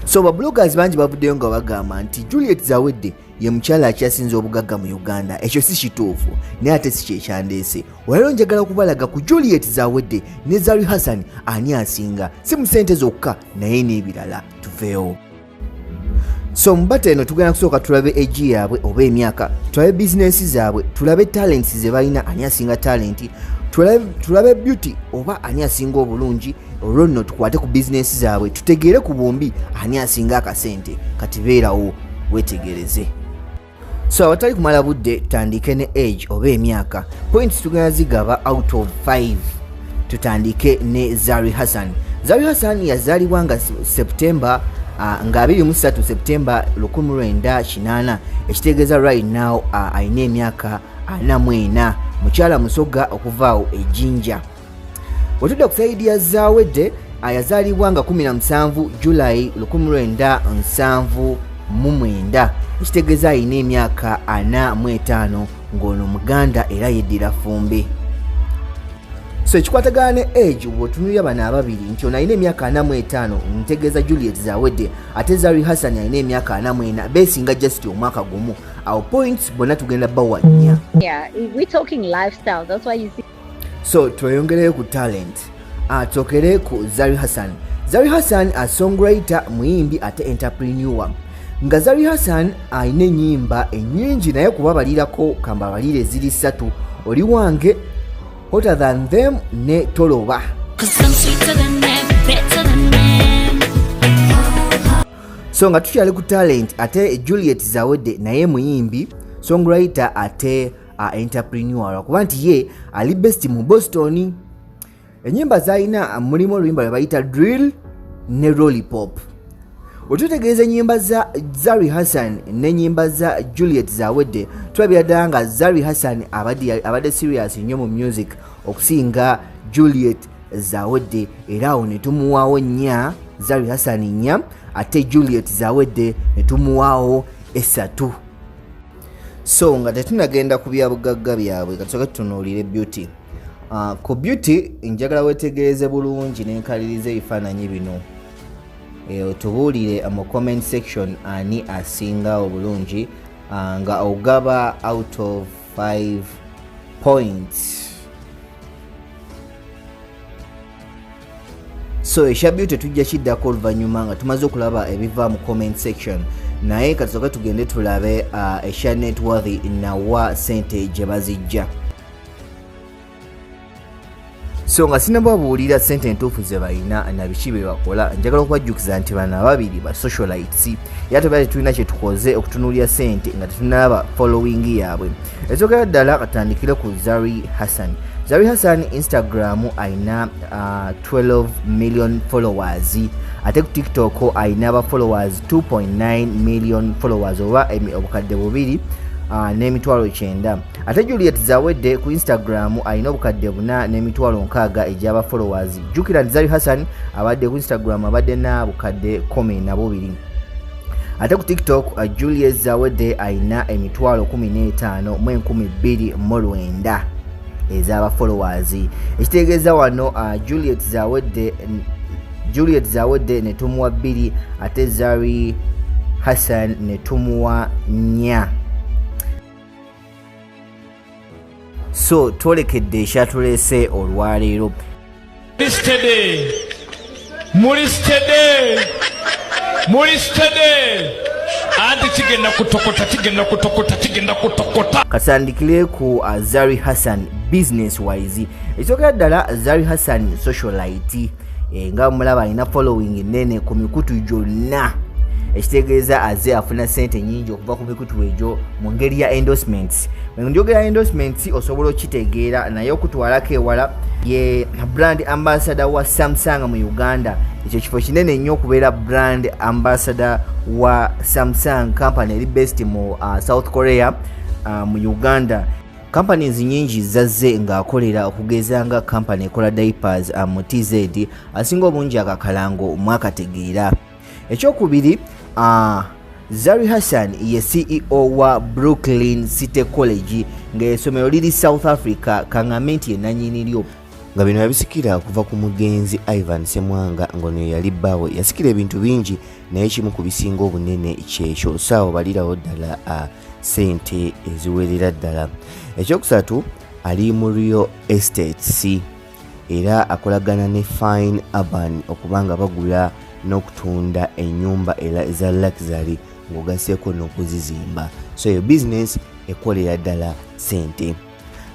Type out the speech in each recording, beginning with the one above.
so babloggers bangi bavuddeyo nga bagamba nti juliet zawedde ye mukyala akyasinza obugagga mu uganda ekyo si kituufu naye ate si kyekyandeese olwaliro njagala okubalaga ku juliet zawedde ne zari hassan ani asinga si mu sente zokka naye n'ebirala tuveewo so mubata eno tugenda kusooka tulabe egi yaabwe oba emyaka tulabe bizinensi zaabwe tulabe talenti ze balina ani asinga talenti tulabe beauty oba ani asinga obulungi olwo nno tukwate ku bizinensi zaabwe tutegeere ku bombi ani asinga akasente kati beerawo wetegereze so awatali kumala budde tutandike ne age oba emyaka points tugenda zigaba out of 5 tutandike ne zari hassan zari hassan yazalibwa nga september uh, nga 23 september 1998 ekitegeeza right now uh, alina emyaka 44 mukyala musoga okuvaawo ejinja wetudda ku saidi ya zawedde ayazaalibwa nga 17 julayi 1979 ekitegeeza alina emyaka 45 ng'ono muganda era yeddira fumbi so ekikwatagana ne age bwotunulira bano ababiri nti ono alina emyaka 45 ntegeeza juliet zawedde ate zari hassan alina emyaka 44 besinga just omwaka gumu awo points bonna tugenda bawa nnya yeah, so tweyongereyo ku talent atokere ku zari hassan zari hassan asongwriter muyimbi ate enterpreneur nga zari hassan alina enyimba enyingi naye kubabalirako kambabalire ziri ssatu oli wange hotter than them ne toloba so nga tukyali ku talent ate juliet zawedde naye muyimbi songwriter ate a entrepreneur kuba nti ye ali best mu boston enyimba zalina mulimu oluyimba lwebayita drill ne rollipop wetutegeeza enyimba za zari hassan nenyimba za juliet zawedde tulabira ddala nga zari hassan abadde serious nnyo mu music okusinga juliet zawedde era awo netumuwaawo nnya zari hassan nnya ate juliet zawedde netumuwaawo esatu so nga tetunagenda ku byabugagga byabwe katusoke tutunuulire beauty uh, ku beauty njagala wetegereze bulungi nenkaliriza ebifaananyi bino e, otubuulire mu comment section ani asinga obulungi uh, nga ogaba out of 5 points so ekya beauty tujja kiddako oluvannyuma nga tumaze okulaba ebiva mu comment section naye katusoke tugende tulabe uh, ekya networthy nawa sente gye bazijja so nga sinababuulira sente entuufu ze balina na biki bye bakola njagala okubajjukiza nti bano ababiri ba socialites era tebali tulina kye tukoze okutunuulira sente nga tetunaba following yaabwe ekyogera ddala katandikire ku zari hassan zari hassan instagram ayina uh, 12 million followers ate ku tiktok ayina aba followers 2.9 million followers oba obukadde bubiri uh, n'emitwalo kyenda ate juliet zawedde ku instagram alina obukadde buna n'emitwalo nkaaga egyaba followers jukira nti zari hassan abadde ku instagram abadde na bukadde 1 nabubiri ate ku tiktok uh, juliet zawedde alina emitwalo 15 mu 229 ezabafollowers ekitegeeza wano uh, juliet zawedde juliet zawedde netumuwa bbiri ate zari hassan netumuwa nya so twolekedde ekyatuleese olwaleero anti kigenda kutokota kigenda kutokota kigenda kutokota katandikire ku azari uh, hassan business wise ekyogera ddala azari hassan socialite eh, nga mulaba alina following nene ku mikutu gyonna ekitegeeza aze afuna sente nyingi okuva ku mikutu egyo mu ngeri ya endorsements njogera endorsements osobola okitegeera naye okutwalako ewala ye brand ambassador wa samsung mu uganda ekyo kifo kinene nnyo okubeera brand ambassador wa samsung company eri best mu uh, south korea uh, mu uganda Companies nyingi zazze ng'akolera okugeza nga company ekola diapers uh, mu TZ asinga obungi akakalango mwakategeera. Ekyokubiri uh, Zari Hassan ye CEO wa Brooklyn City College ng'esomero liri South Africa kang'ambe nti yenanyini lyo nga bino yabisikira okuva ku mugenzi Ivan Semwanga ngono yali bbaawe yasikira ebintu bingi naye kimu ku bisinga obunene kyekyo saawo balirawo ddala uh, sente eziwerera ddala ekyokusatu ali mu real estates era akolagana ne fine urban okuba nga bagula n'okutunda enyumba era eza luxury ng'ogaseeko n'okuzizimba so eyo bizinesi ekolera ddala sente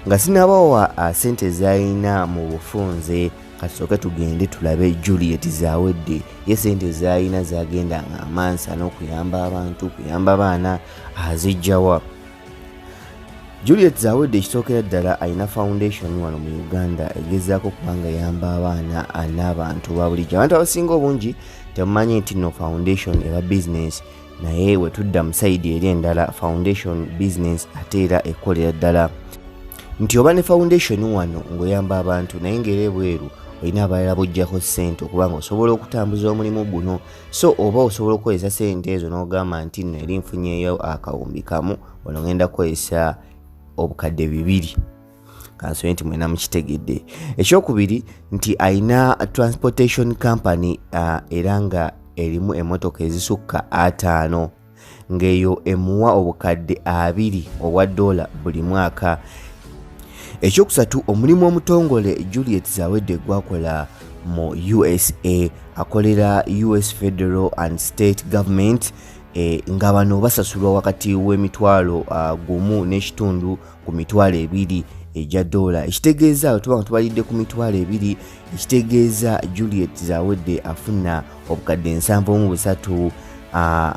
nga sinabawa ah, sente zayina mu bufunze kasooke tugende tulabe juliet zawedde ye sente zayina zagenda nga amansa n'okuyamba abantu kuyamba abaana azijjawa juliet zawedde ekisookera ddala alina foundation wano mu uganda egezaako kubanga yamba abaana n'abantu babulijjo abantu abasinga obungi temumanyi nti no foundation eba bizinesi naye we tudda mu sayidi eri endala foundation business ate era ekkolera ddala nti oba ne foundation wano ng'oyamba abantu naye ng'era ebweru olina abalala bojjako ssente okubanga osobola okutambuza omulimu guno so oba osobola okukozesa ssente ezo n'ogamba nti nno eri nfunyeyo akawumbi kamu ono ngenda kukozesa obukadde bibiri kansoye nti mwena mukitegedde ekyokubiri nti alina transportation company uh, era nga erimu emotoka ezisukka ataano ng'eyo emuwa obukadde abiri obwa doola buli mwaka ekyokusatu omulimu omutongole juliet zawedde gwakola mu usa akolera us federal and state government e, nga bano basasulwa wakati w'emitwalo uh, gumu n'ekitundu ku mitwalo ebiri egya doola ekitegeeza bwe tuba nga tubalidde ku mitwalo ebiri ekitegeeza juliet zawedde afuna obukadde ensanvu mu busatu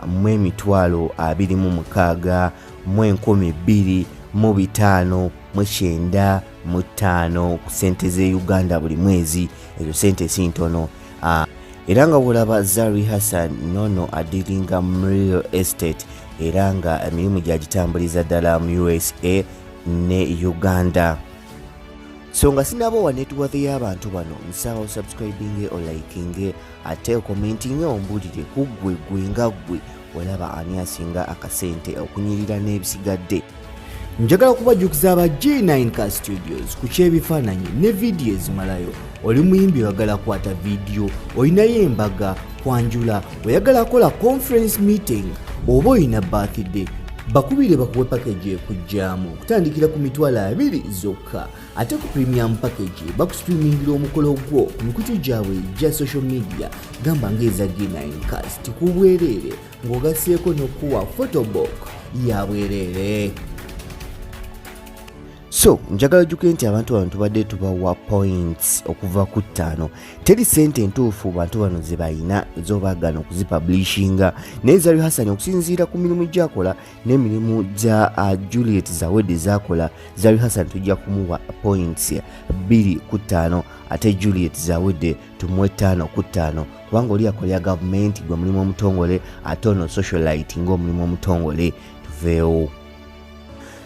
mu emitwalo abiri mu mukaaga mu enkumi bbiri mu bitaano mu kyenda mu ttaano ku ssente z'e uganda buli mwezi ezo ssente si ntono ah, era nga wolaba zari hassan nono adiringa mu real estate era nga emirimu gyagitambuliza ddala mu usa ne uganda so nga sinaba owa networth y'abantu bano nsaba osubscribinge olikinge ate okomentinge ombulire kuggwe gwe nga ggwe olaba ani asinga akasente okunyirira n'ebisigadde njagala kubajjukiza aba g9 car studios ku ky'ebifaananyi ne vidiyo ezimalayo oli muyimbi oyagala kwata vidiyo olinayo embaga kwanjula oyagala kola conference meeting oba olina birthday bakubire bakuwe pakeji ekujjamu okutandikira ku mitwalo abiri zokka ate ku premium package bakustreamingira omukolo gwo ku mikutu gyabwe gya social media gamba ng'eza g9 cast ku bwereere ng'ogaseeko n'okuwa photobook ya bwereere so njagala juke nti abantu bano tubadde tubawa points okuva ku ttaano teri sente entuufu bantu bano zebalina zobaagana okuzipublishinga naye zari hasani okusinziira ku mirimu gyakola n'emirimu gya uh, juliet zawedi zakola zari hassan tujja kumuwa points bbiri ku ttaano ate juliet zawede tumuwe ttaano ku ttaano kubanga oli akolera gavumenti gwe mulimu omutongole ate ono socialite ngaomulimu omutongole tuveewo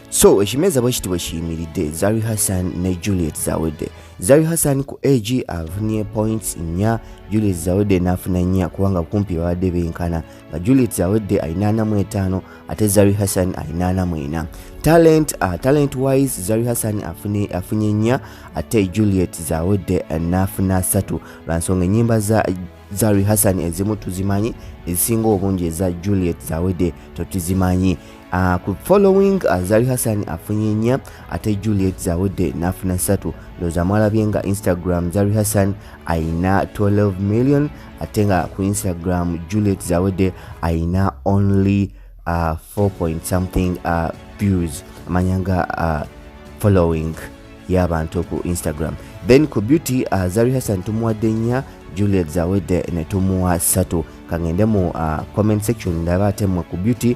so ekimeeza bwe kiti bwe kiyimiridde zari hassan ne juliet zawede zari hassan ku ag afunye points nnya juliet zawede n'afuna nnya kubanga kumpi babadde benkana nga Juliet awedde alina ana mu etaano ate Zari Hassan alina ana mu ena talent uh, talent wise Zari Hassan afune afunye nnya ate Juliet zawedde n'afuna asatu lwa nsonga ennyimba za Zari Hassan ezimu tuzimanyi ezisinga obungi eza Juliet zawedde totuzimanyi Uh, ku following uh, Zari Hassan afunye nnya ate Juliet Zawedde n'afuna ssatu ndowooza mwalabye nga Instagram Zari Hassan ayina 12 million ate nga ku Instagram Juliet Zawedde ayina only uh, 4 point something uh, views amanya nga uh, following y'abantu ku Instagram then ku beauty uh, Zari Hassan tumuwadde nnya Juliet Zawedde ne tumuwa ssatu kangende mu uh, comment section ndaba ate mwe ku beauty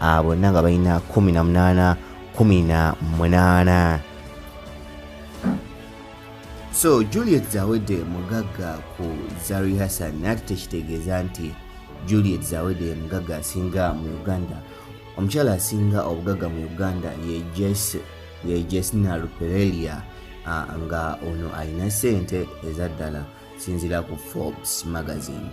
ah, bonna nga balina 18 18 so juliet zawedde mugagga ku zari hassan nati tekitegeeza nti juliet zawedde mugagga asinga mu uganda omukyala asinga obugagga mu uganda ye jess ye jesina ruperelia nga ono alina sente eza ddala sinzira ku forbes magazine